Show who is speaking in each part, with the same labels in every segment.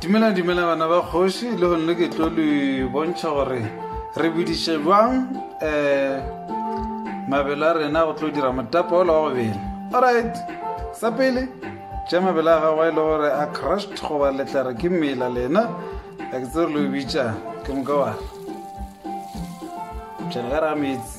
Speaker 1: dumela dumela bana ba kgoši le gonne ke tlo le bontšha gore re bediše jwang um mabele a rena go tlo dira motapa ola wa gobele alright sa pele ja mabele a gago a e le gore a crushed goba letlare ke mela lena a ke tse re lo bitša ke moka wara jana ka raga metsi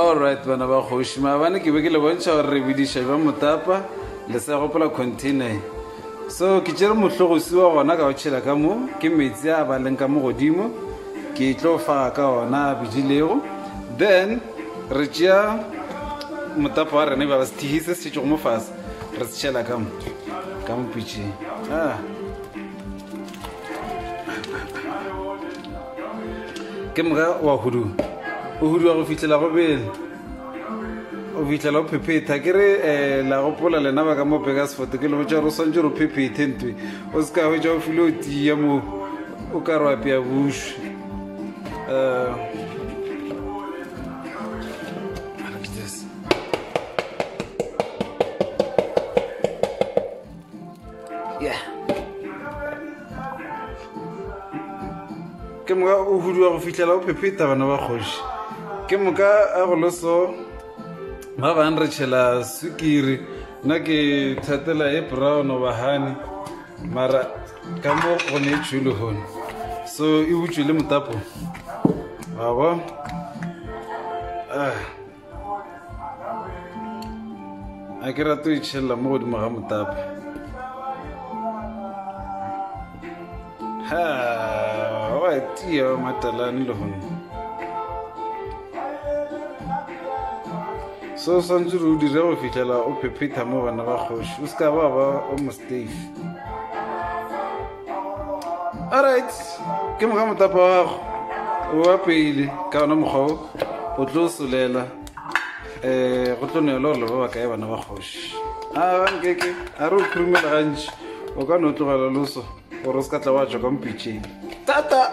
Speaker 1: Alright bana ba kgoši maabane ke be ke le bontšha gore re bediša jwa motapa le sa gopola container so ke tšere mohlogosi wa gona ka go tšhela ka mo ke metsi a ba leng ka mo godimo ke tlo faga ka ona a bedilego then re tšea motapa wa rena ba sethihi se se tšetšego mo fase re se tšhela ka mo ka mopitšeng ah. ke moga wa hudu o huduwa go fitlhela go bele o fitlhela o phephetha ke re um la gopola lena ba ka mo peka sefoto ke lego tša gore o swantse gore o phephethe ntwe o se ka hwetša o file o tiya mo o ka re apea bušwe um yeah. ke moka o huduwa go fitlhela o phepheta bana ba kgoši ke moka a go loso ba bang re tšhela sukiri nna ke thatela e brown bahane mara ka mo go ne e tšhule gone so e utswe le motapo abo ah a ke rate o itšhelela mo godimo ga motapa ha wa tia wa matalane le gone se o swantse re o dire go fitlhela o phephetha mo bana ba kgoši o se ka ba ba o mostafe alright ke moga motapa wa gago wa pele ka ona mokgwa o o tlo solela um go tlo neelo gore le ba ba kae bana ba kgoši a gankeke a re o khurumela gantši o ka no tlogela loso gore o se ka tla wa tswa ka mpitšeng tata